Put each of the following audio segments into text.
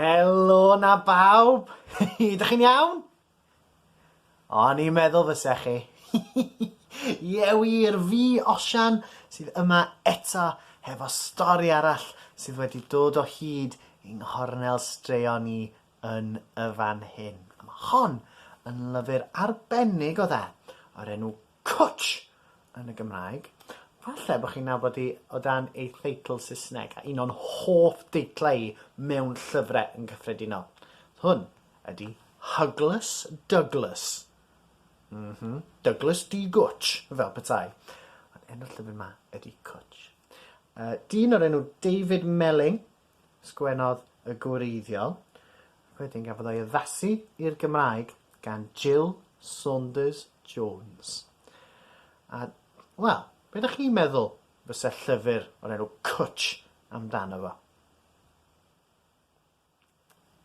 Helo na bawb! Ydych chi'n iawn? O'n i'n meddwl fysa chi. Ie wir, fi Osian sydd yma eto hefo stori arall sydd wedi dod o hyd yng nghornel straeon ni yn y fan hyn. Mae hon yn lyfr arbennig o dda o'r enw Cwtsh! yn y Gymraeg. Falle bod chi'n nabod hi o dan ei theitl Saesneg, a un o'n hoff deitlau i mewn llyfrau yn gyffredinol. Hwn ydy Hugless Douglas. Mhm, Douglas D. Gwtsh, fel petai. Ond enw'r llyfr 'ma ydy Cwtsh. Uh, dyn o'r enw David Melling Sgwennodd y gwreiddiol, ac wedyn gafodd o'i addasu i'r Gymraeg gan Jill Saunders Jones. A, wel, be ydych chi'n meddwl fysa llyfr o'r enw Cwtsh amdano fo?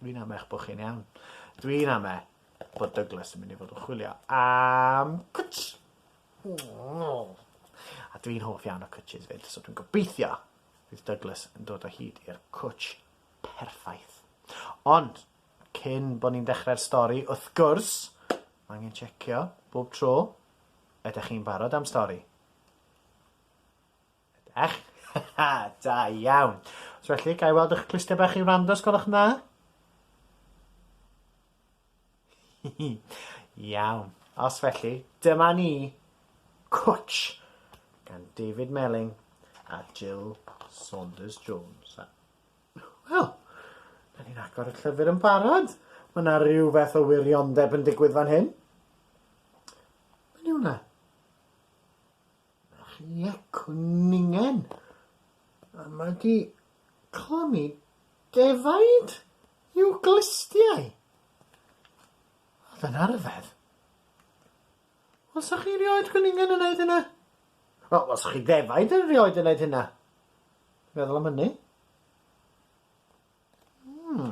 Dwi'n ame eich bod chi'n iawn. Dwi'n ame bod Douglas yn mynd i fod yn chwilio am cwtsh. A dwi'n hoff iawn o cwtshys 'fyd, so dwi'n gobeithio Bydd Douglas yn dod o hyd i'r cwtsh perffaith. Ond, cyn bo ni'n dechrau'r stori, wrth gwrs, mae angen checio bob tro. Ydych chi'n barod am stori? Ydych? Ha, da iawn. Os felly, ga i weld eich clustiau bach i wrando, os gwelwch yn dda? Iawn, os felly, dyma ni, Cwtsh, gan David Melling a Jill Saunders Jones. A... Wel, da ni'n agor y llyfr yn barod. Mae yna rhywbeth o wiriondeb yn digwydd fan hyn. Mae'n yw na? Ie, cwningen! A mae 'di clymu defaid i'w glustiau! Oedd yn arfedd. Wel, sa chi rioed cwningen yn neud hynna? Wel, os chi ddefaid yn rioed yn neud hynna. Meddwl am hynny. Hmm.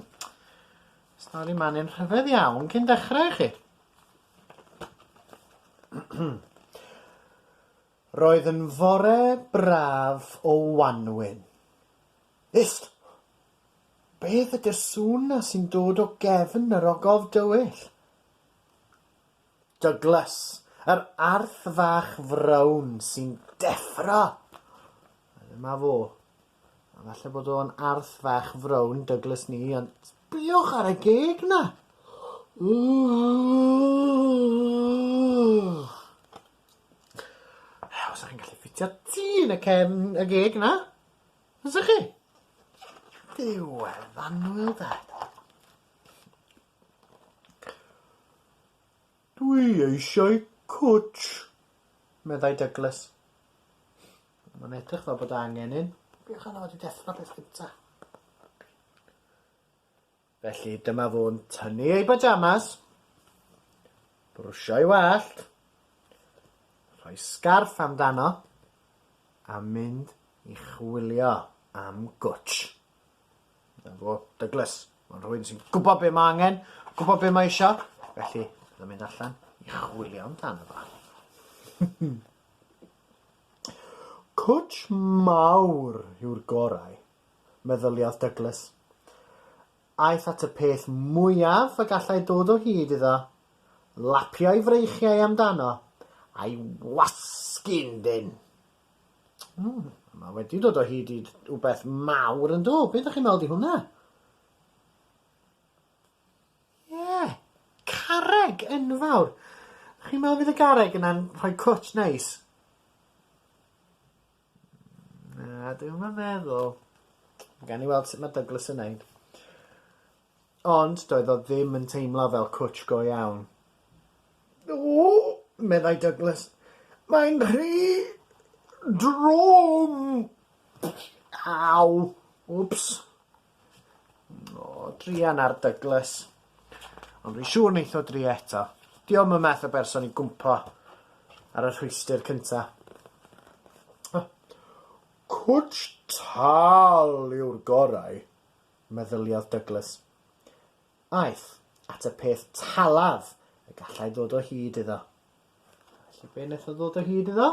Stori manu'n rhyfedd iawn cyn dechrau i chi. Roedd yn fore braf o wanwyn. Ist! Beth ydy'r sŵn na sy'n dod o gefn yr ogof dywyll? Douglas, yr arth fach frown sy'n deffro! Dyma fo. A falle bod o'n arth fach frown Douglas ni, ond sbïwch ar y geg 'na! Os i'n gallu ffitio ti yn y cefn y geg 'na, fysa chi? Ddiwedd annwyl de. Dwi eisiau cwtsh, meddai Douglas. Mae'n edrych fel bod angen un. Beth yna wedi deffro beth gynta? Felly dyma fo'n tynnu ei bajamas, brwsio'i wallt, rhoi sgarff amdano a mynd i chwilio am gwtsh. 'Na fo, Douglas. Mae'n rhywun sy'n gwybod be mae angen, gwybod be mae eisiau, felly bydd yn mynd allan i chwilio amdano fo. Cwtsh mawr yw'r gorau, meddyliaeth Douglas. Aeth at y peth mwyaf y gallai dod o hyd iddo, lapio'i freichiau amdano, a'i wasgu'n ddyn. Ww, ma' wedi dod o hyd i wbeth mawr yn do? Be' 'dach chi'n me'wl 'di hwnna? Ie! Carreg enfawr! Chi'n me'wl fydd y garreg yna'n rhoi cwtsh neis? Na, dwi'm yn meddwl. Gawn ni weld sut ma' Douglas yn neud. Ond doedd o ddim yn teimlo fel cwtsh go iawn. O! meddai Douglas. Mae'n rhy drwm! Aw! Wps! O, druan ar Douglas. Ond fi'n siŵr neith o drio eto. Diom y math o berson i gwmpo ar y rhwystr cynta. Cwtsh tal yw'r gorau. meddyliodd Douglas. Aeth at y peth talaf y gallai ddod o hyd iddo. Felly be wnaeth o ddod o hyd iddo?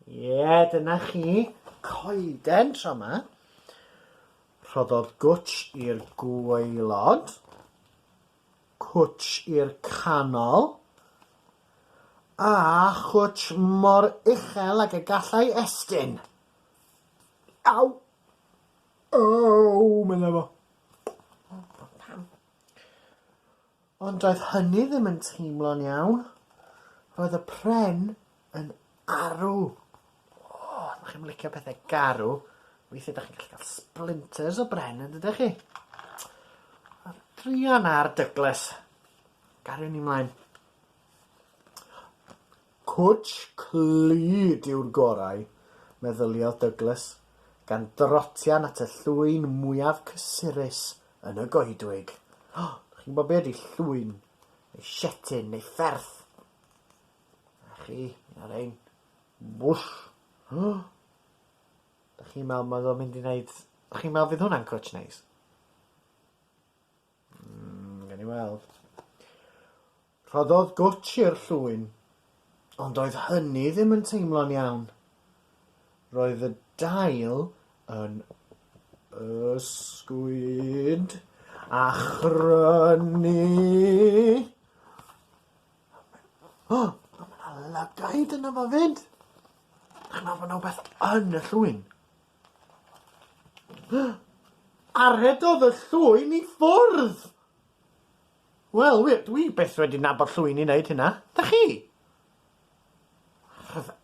Ie, yeah, dyna chi, coeden tro yma. Rhoddodd gwtsh i'r gwaelod, cwtsh i'r canol, a chwtsh mor uchel ag y gallai estyn. Aw! Ow! medda fo. Pam? Ond doedd hynny ddim yn teimlo'n iawn. Roedd y pren yn arw. O, os chi'n licio pethau garw, weithiau da chi'n gallu cael splinters o bren yn dydych chi? A druan ar Douglas. Gariwn ni mlaen. Cwtsh clyd yw'r gorau, meddyliodd Douglas, gan drotian at y llwyn mwyaf cysurus yn y goedwig. O, dych chi'n gwybod be ydy llwyn, neu sietin, neu fferth? A chi, un o'r ein. Mwsh! O! Dych chi'n meddwl mae o'n mynd i wneud... Dych chi'n meddwl fydd hwnna'n cwtsh neis? Mm, gen i weld. Rhoddodd gwtsh i'r llwyn, ond oedd hynny ddim yn teimlo'n iawn. Roedd y dail yn ysgwyd a chrynu. O, mae yna lygaid yna fo fyd. Dych chi'n meddwl bod yna rhywbeth yn y llwyn? A rhedodd y llwyn i ffwrdd! Wel, wir, dwi byth wedi nabod llwyn i wneud hynna. Da chi? Rhyfedd.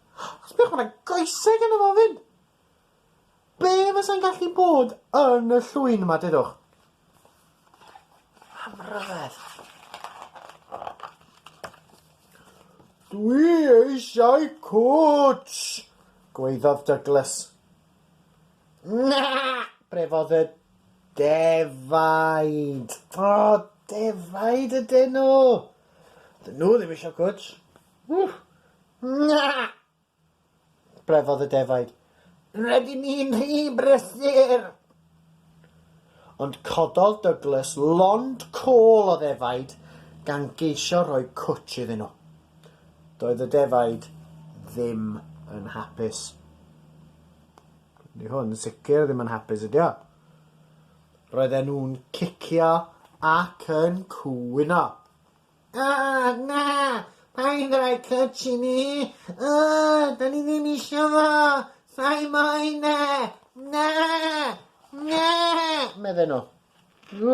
Sbiwch, mae yna goeseg yn y fofyn! Be fysa'n gallu bod yn y llwyn yma, dedwch? Am ryfedd. Dwi eisiau cwtsh! gwaeddodd Douglas. Na! brefodd y defaid. O, defaid ydyn nhw! Dyn nhw ddim eisiau cwtsh. Wff! Na! Brefodd y defaid. Rydyn ni'n rhy brysur! Ond cododd Douglas lond col o ddefaid gan geisio rhoi cwtsh iddyn nhw. Doedd y defaid ddim yn hapus. Ni hwn yn sicr ddim yn hapus ydi o. Roedden nhw'n cicio ac yn cwyno. O, na! Paid rhoi cwtsh i ni! O, da ni ddim isio fo! Sai moyn e! Na! Na! medden nhw.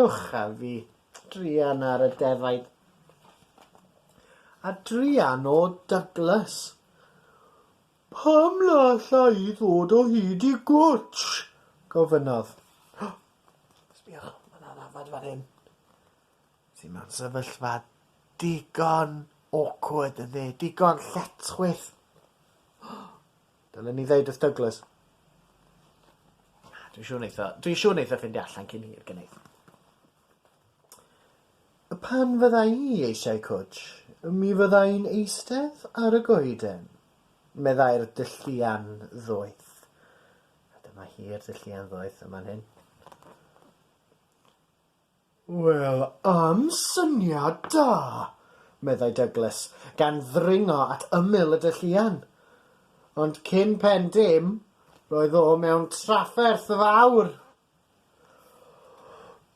Uwch a fi, druan ar y defaid. A druan o Douglas. Pam na alla i ddod o hyd i gwtsh? gofynnodd. Sbïwch, mae yna ddafad fan hyn. Ti mewn sefyllfa digon awkward yndi? Digon lletchwith. Dylen ni ddeud wrth Douglas. Dwi'n siŵr neitho, dwi'n siŵr neitho ffindio allan cyn hir, gynneidd. Pan fydda i eisiau cwtsh, mi fydda i'n eistedd ar y goeden, meddai'r dylluan ddoeth. A dyma hi'r dylluan ddoeth yma'n hyn. Wel, am syniad da! meddai Douglas, gan ddringo at ymyl y dylluan. Ond cyn pen dim, roedd o mewn trafferth fawr.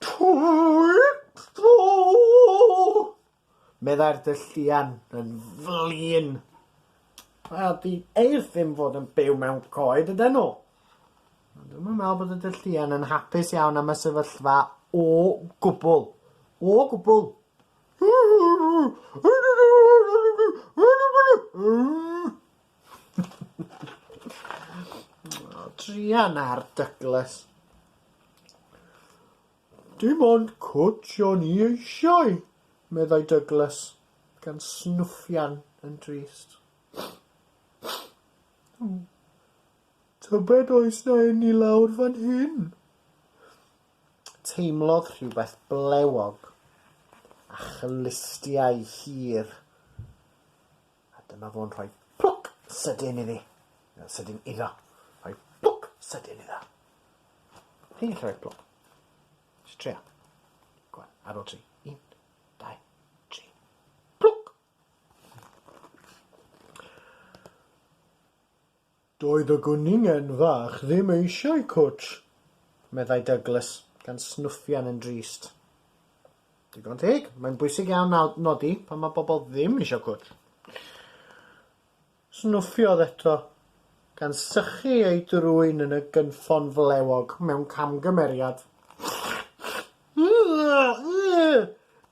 Twit-tw! Meddai'r dylluan yn flin. Wel, di eirth ddim fod yn byw mewn coed ydyn nhw. Ond dwi'm yn meddwl bod y dylluan yn hapus iawn am y sefyllfa o gwbl. O gwbl! Trian ar Douglas. Dim ond cwtsh o'n i eisiau, meddai Douglas, gan snwffian yn drist. Tybed oes na un i lawr fan hyn? Teimlodd rhywbeth blewog a chlustiau hir A dyma fo'n rhoi plwc sydyn iddi. Na, sydyn iddo. Rhoi plwc sydyn iddo. Ti'n gallu rhoi plwc. Just trio. Go on, ar ôl tri. Un, dau, tri. Plwc! Doedd y gwningen fach ddim eisiau cwtsh, meddai Douglas, gan snwffian yn drist. Digon teg, mae'n bwysig iawn nodi pan mae pobl ddim eisiau cwtsh. Snwffiodd eto, gan sychu ei drwyn yn y gynffon flewog mewn camgymeriad.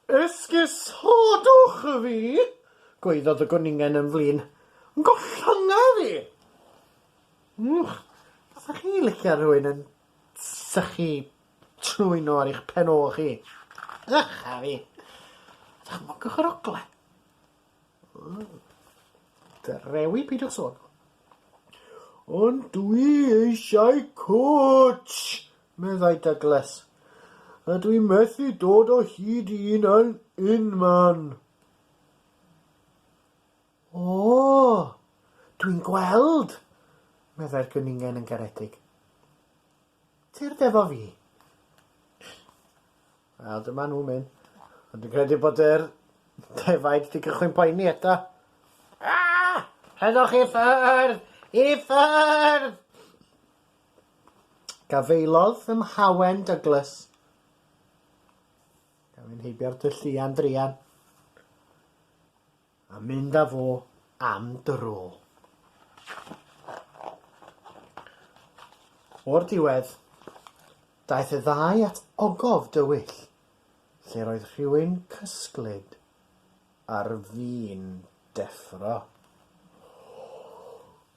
Esgusodwch fi! gwaeddodd y gwningen yn flin. Gollynga fi! Wch, fysech chi'n licio rhywun yn sychu trwyn ar eich pen ôl chi? Ych a fi! Dychmygwch yr ogle. Drewi peidiwch sôn. Ond dwi eisiau cwtsh! meddai Douglas, a dwi methu dod o hyd i un yn unman. O, dwi'n gweld, meddai'r gyningen yn garedig. Tyrd efo fi. Wel, dyma nhw'n mynd. Ond dwi'n credu bod yr defaid wedi cychwyn poeni eto. Ah! Heddwch i ffyrdd! I ffyrdd! Gafaelodd ym Mhawen Douglas. Gafin heibio'r tylluan drian. A mynd â fo am dro. O'r diwedd, daeth y ddau at ogof dywyll, lle roedd rhywun cysglyd ar fin deffro.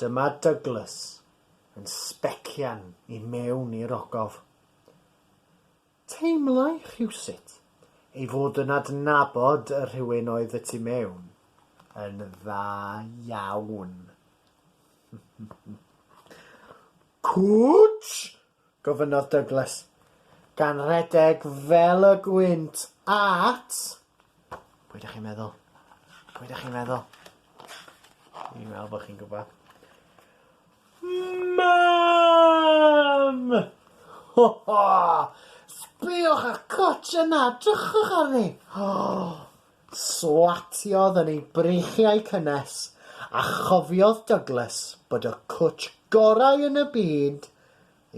Dyma Douglas yn sbecian i mewn i'r ogof. Teimlai rhywsut ei fod yn adnabod y rhywun oedd y tu mewn yn dda iawn. Cwtsh! Gofynnodd Douglas, gan redeg fel y gwynt at... Pwy dych chi'n meddwl? Pwy dych chi'n meddwl? Dwi'n meddwl bod chi'n gwybod. Mam! Ho ho! Sbïwch ar Cwtsh yna, drychwch arni! Swatiodd yn ei breichiau cynnes, a chofiodd Douglas bod y cwtsh gorau yn y byd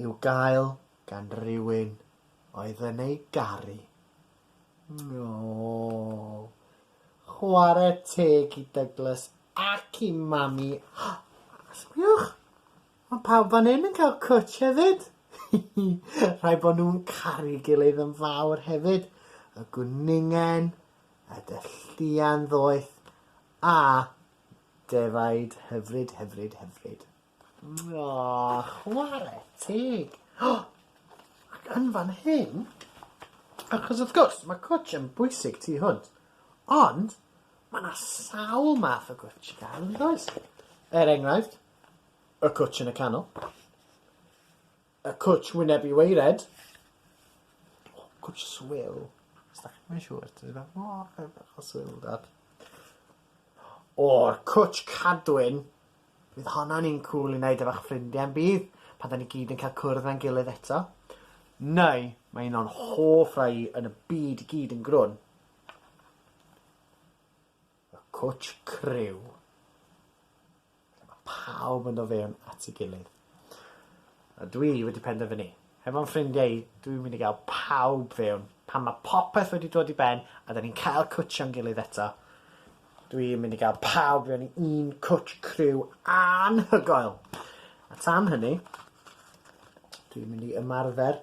i'w gael gan rywun oedd yn ei garu. Aww. Chwarae teg i Douglas ac i Mami. Sbiwch! Mae pawb fan hyn yn cael cwtsh hefyd. Rhaid bod nhw'n caru gilydd yn fawr hefyd. Y gwningen, y dylluan ddoeth a defaid hyfryd, hyfryd, hyfryd. Aww, chwarae teg. Ac yn fan hyn, achos wrth gwrs, mae cwtsh yn bwysig tu hwnt, ond mae yna sawl math o gwtsh gael yn does? Er enghraifft, y cwtsh yn y canol. Y cwtsh wyneb i waered. O, cwtsh swil. Stop, mae'n siŵr. Ti'n meddwl, o, okay, bach o swil da. O'r cwtsh cadwyn. Bydd honna'n un cwl i wneud efo'ch ffrindiau yn bydd? Pan da ni gyd yn cael cwrdd mewn gilydd eto. Neu, mae un o'n hoff rai yn y byd i gyd yn grwn. Y cwtsh criw. Lle mae pawb yn dod fewn at ei gilydd. A dwi wedi penderfynu, hefo'n ffrindiau i, dwi'n mynd i gael pawb fewn. Pan mae popeth wedi dod i ben a da ni'n cael cwtshio'n gilydd eto, dwi'n mynd i gael pawb fewn i un cwtsh criw anhygoel! A tan hynny, dwi'n mynd i ymarfer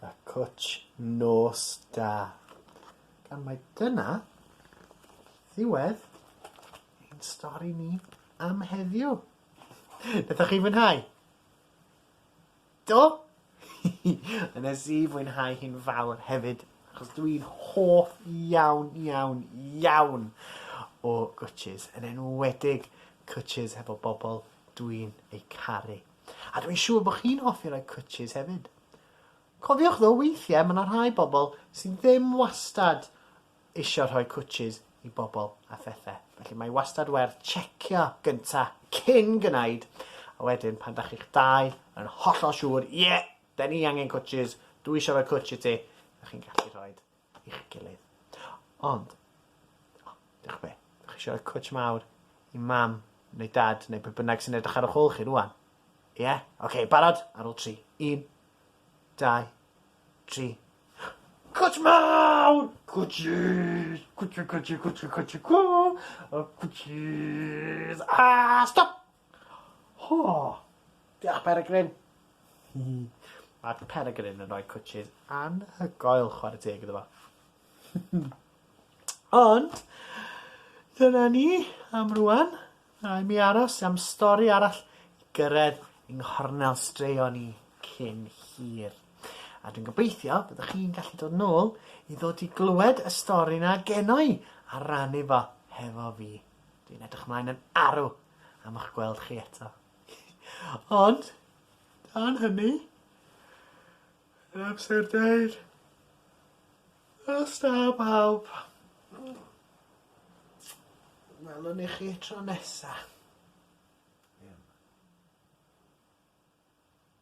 A cwtsh nos da. Gan mai dyna ddiwedd ein stori ni am heddiw. Nathoch chi fwynhau? Do? Nes i fwynhau hi'n fawr hefyd achos dw i'n hoff iawn iawn iawn o gwtshys yn enwedig cwtshys hefo bobl dw i'n eu caru. A dwi'n siŵr bod chi'n hoffi rhoi cwtshys hefyd. Cofiwch ddo weithiau mae 'na rhai bobl sydd ddim wastad eisiau rhoi cwtshys i bobl a phethau. Felly mae wastad werth tsecio gynta cyn gwneud. A wedyn pan da chi'ch dau yn hollol siŵr, ie, yeah, da ni angen cwtshys, dwi eisiau rhoi cwtsh i ti, da chi'n gallu rhoi i'ch gilydd. Ond, o, diolch be, dych chi eisiau rhoi cwtsh mawr i mam neu dad neu pe bynnag sy'n edrych ar o'ch ôl chi rwan? Ie? Yeah? Oce, okay, barod? Ar ôl tri. Un, dau, tri. Cwtsh mawr! Cwtshys! Cwtshys, cwtshys, cwtshys, cwtshys, cwtshys! A stop! Ho! Diolch Peregrine! Mae Peregrine yn rhoi cwtshys anhygoel chwarae teg iddo fo. Ond, dyna ni am rwan. Rhaid mi aros am stori arall i gyrraedd yng nghornel straeon i cyn hir. A dwi'n gobeithio byddwch chi'n gallu dod nôl i ddod i glywed y stori na geno i a rannu fo hefo fi. Dwi'n edrych ymlaen yn arw am eich gweld chi eto. Ond, dan hynny, yn amser deud, Hwyl da bawb. Welwn ni chi tro nesa.